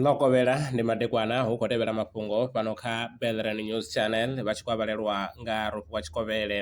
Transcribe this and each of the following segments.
ḽo kovhela ndi madekwana hu khou tevhela mafhungo fhano kha Belran News Channel vha tshi khou avhalelwa nga Rofhiwa Tshikovhele.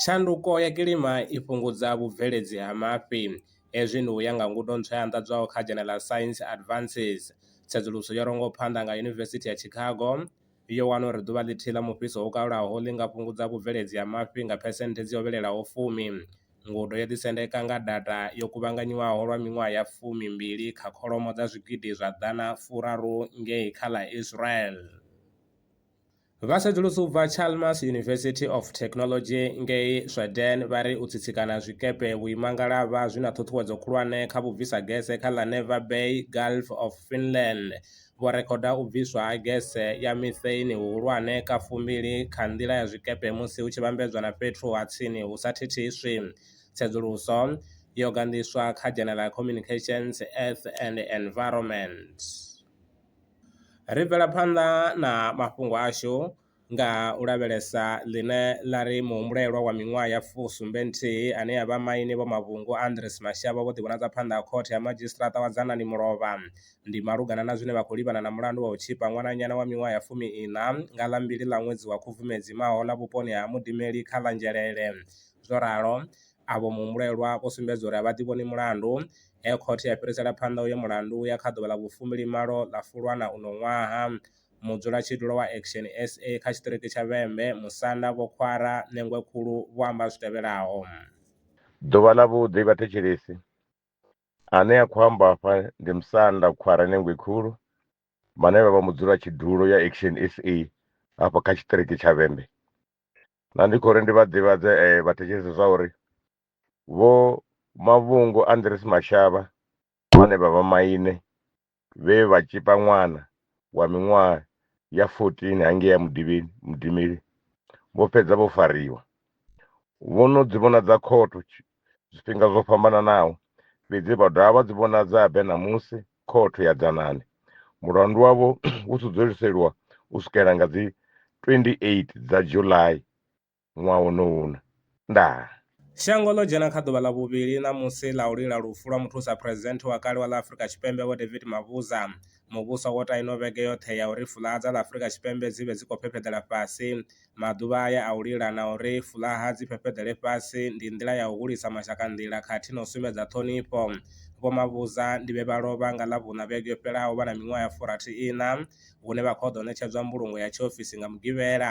Tshanduko ya kilima i fhungudza vhubveledzi ha mafhi, hezwi ndi u ya nga ngudo ntswa ya anḓadzwaho kha dzhene ḽa Science Advances. Tsedzuluso yo rongwa phanḓa nga Yunivesithi ya Chicago yo wana uri ḓuvha ḽithihi ḽa mufhiso wo kalulaho ḽi nga fhungudza vhubveledzi ha mafhi nga phesenthe dzi hovhelelaho fumi. Ngudo yo ḓisendeka nga data yo kuvhanganyiwaho lwa miṅwaha ya fumi mbili kha kholomo dza zwigidi zwa ḓana furaru ngei kha ḽa Israel. Vhasedzulusi u bva Chalmers University of Technology ngei Sweden vha ri u tsitsikana zwikepe vhuimangalavha zwi na ṱhuṱhuwedzo khulwane kha vhubvisa gese kha ḽa Never Bay, Gulf of Finland. vho rekhoda u bviswa ha gese ya mitheini huhulwane ka fumbili kha nḓila ya zwikepe musi hu tshi vhambedzwa na fhethu ha tsini hu sa thithiswi. Tsedzuluso yo ganḓiswa kha dzhenela ya Communications, Earth and Environment. Ri bvela phanḓa na mafhungo ashu. nga u lavhelesa ḽine ḽa ri muhumbulelwa wa miṅwaha ya fusumbe nthihi ane a vha maine Vho Mavhungo Andries Mashavho vho ḓivhonadza phanḓa ha Khothe ya Madzhisiṱiraṱa wa Dzanani Mulovha ndi malugana na zwine vha khou livhana na mulandu wa u tzhipa ṅwananyana wa miṅwaha ya fumi-iṋa nga ḽa mbili ḽa ṅwedzi wa Khubvumedzi mahoḽa vhuponi ha Mudimeli kha ḽa Nzhelele. Zwo ralo, avho muhumbulelwa vho sumbedza uri a vha ḓivhoni mulandu, he Khothe ya fhirisela phanḓa uyo mulandu u ya kha ḓuvha ḽa vhufumbilimalo ḽa Fulwana uno ṅwaha. mudzulatshidulo wa Action SA kha tshiṱiriki tsha Vhembe, Musanda, Vho Khwara Ṋengwe Khulu vho amba zwi tevhelaho. Ḓuvha ḽavhuḓi vhathetshelesi. Ane a khou amba afha ndi Musanda Khwara Ṋengwe Khulu vhane vha vha mudzulatshidulo ya Action SA hafha kha tshiṱiriki tsha Vhembe. Na ndi khou ri ndi vha ḓivhadze vhathetshelesi zwa uri Vho Mavhungu Andries Mashaba vhane vha vha maine vhe vha tshipa ṅwana wa miṅwaha ya 14 hangei mudivhini mudimili vho fhedza vho fariwa vho no dzi vhonadza khotho zwifhinga zwo fhambananaho fhedzi vha dovha vha dzi vhonadza habe ṋamusi khotho ya dzanani mulandu wavho u sudzuluseliwa u swikela nga dzi 28 dza july ṅwaha wonowu uno. Ndaa. Shango ḽo dzhena kha ḓuvha ḽa vhuvhili ṋamusi ḽa u lila lufu lwa muthusa phresidennde wa kale wa ḽa Afrika Tshipembe Vho David Mabuza. Muvhuso wo ta ino vhege yoṱhe ya uri fuḽaha dza ḽa Afrika Tshipembe dzi vhe dzi khou fhefheḓela fhasi. Maḓuvha aya a u lila na uri fuḽaha dzi fhefheḓele fhasi ndi nḓila ya u hulisa mashaka nḓila khathihi na u sumbedza ṱhonifho. Vho Mabuza ndi vhe vha lovha nga Ḽavhuṋa vhege yo fhelaho vha na miṅwaha ya furathi iṋa hune vha khou ḓo ṋetshedzwa mbulungo ya tshiofisi nga Mugivhela.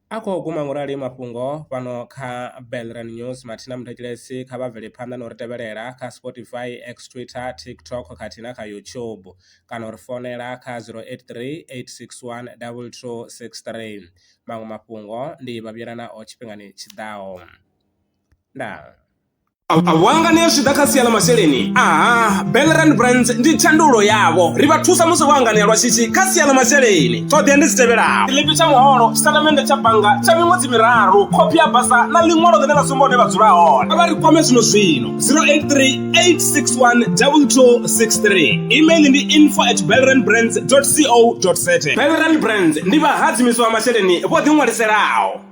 A khou guma ngurali mafhungo fhano kha Belran News. Mathina Muthetshilesi kha vha bvele phanḓa na u ri tevhelela kha Spotify, X, Twitter, TikTok khathihi na kha YouTube kana u ri founela kha 083 861 2263. Maṅwe mafhungo ndi vha vhuyela nao tshifhingani tshi ḓaho. Ndaa. vhuanga ni ya zwi ḓa kha sia ḽa masheleni aha belrand brands ndi tshandulo yavho ri vha thusa musi vho anganea lwa shishi kha sia ḽa masheleni ṱhoḓea ndi dzi tevhelaho tshiḽipi tsha muholo tshitatamennde tsha bannga tsha miṅwedzi miraru khophi ya basa na ḽiṅwalo ḽine ḽa sumba hune vha dzula hone vha ri kwame zwino zwino 0838612263 email ndi info at belrand brands co za belrand brands ndi vhahadzimiswa vha masheleni vho ḓiṅwaliselaho